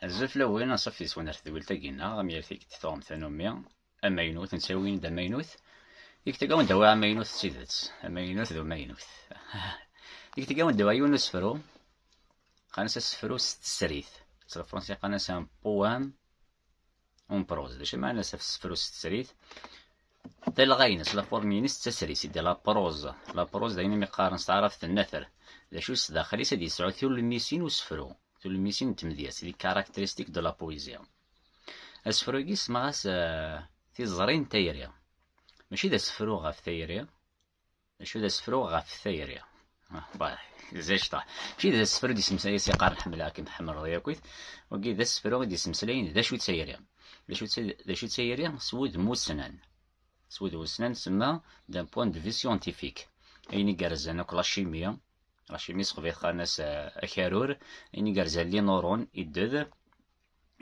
Azul fell-awen, anṣuf yes-wen ar tedwilt-agi-nneɣ, am yal tikkelt tuɣem tanumi, amaynut, nettawi-wen-d amaynut, tikkelt agi wen-d awi amaynut d tidet, amaynut d umaynut. tikkelt agi wen-d awi yiwen n usefru, qqaren-as asefru s tesrit, s lefransi qqaren-as un poème, Un prose, d acu i maɛna asafsefru s tesrit? Talɣa-ines, la forme-ines d tasrit, sidi la prose. La prose d ayen imi qqaren s taɛrabt nnatr. D acu s daxel-is ad yesɛu tulmisin usefru, tulmisin n tmedyazt, les caractéristiques de la poésie. Asefru-agi semmaɣ-as Tiẓri n tayri. Mačči d asefru ɣef tayri, D acu d asefru ɣef tayri? zejṭa mačči d asefru d-ismeslay as iqar nḥemmleɣ-kem tḥemmleḍ yakit wagi d asefru i d-ismeslayen d acu d tayri d acu d tayri s wudem ussnan s wudem ussnan semma d'un point de vue scientifique ayen igerrzen akk la chimie la chimie sexbit xan-as akarur ayen igerrzen li nurun idded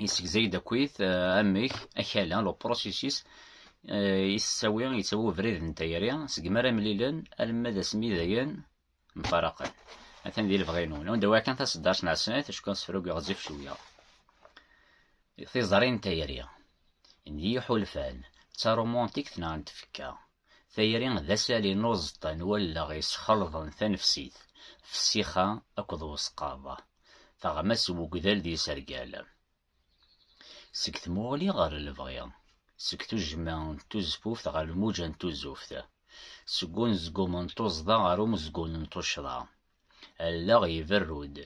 yessegzay-d akkit amek akala le processus yettawi yettawi ubrid n tayri segmi ara mlilen alma d asmi dayen mfaraqen atan di lebɣi-inu newn d wakan taseddart n asnat acku asefrug ɣezzif cwiya tiẓri n tayri n yiḥulfan d tarumantikt neɣ n tfekka Tayri d asali n uẓeṭṭa n wallaɣ yesxelḍen tanefsit, fessixa akked wesqaḍ, teɣma s wegdal d yisergal. Seg tmuɣli ɣer lebɣi, seg tujjma n tuzfuft ɣer lmuǧa n tuzuft, seg unezgum n tuẓḍa ɣer umezgun n tuccḍa, Allaɣ iberru-d,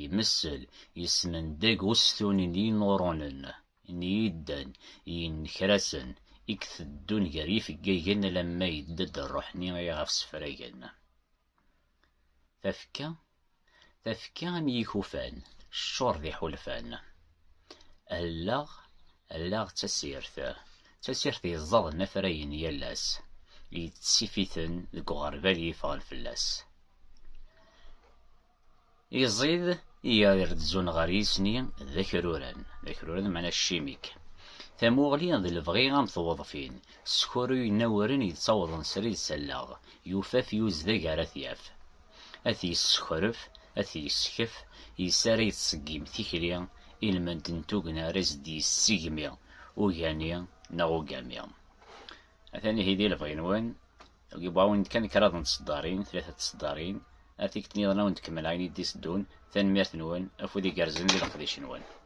imessel, yesmendeg ustun n yinuṛunen, n yiddan, n yinekrasen, i iteddun gar yifeggagen alamma yedda-d rruḥ-nni iɣef ssefragen. Tafekka, tafekka am yikufan, teččur d iḥulfan. Allaɣ, Allaɣ d tasirt. D tasirt yeẓẓaden afrayen n yal ass, yettsif-iten deg uɣerbal yeffɣen fell-as. Iẓid i irezzun ɣer yisni d akruran, d akruran meɛna cimik. Tamuɣli d lebɣi am tewḍfin, sskuruyen awren yettawḍen srid s allaɣ, yufaf yuzdag ara t-yaf. ad t-yessexref, ad t-yesskef, yes-s ara yettṣeggim tikli, ilmend n tugna ara as-d-yessigmi ugani neɣ ugami. Atan ihi di lebɣi-nwen, yewwa-awen-d kan kraḍ n tseddarin, tlata n tseddarin, ar tikkelt-nniḍen ad wen-d-kemmel ayen i d-iteddun, tanemmirt-nwen, afud igerrzen di leqdic-nwen.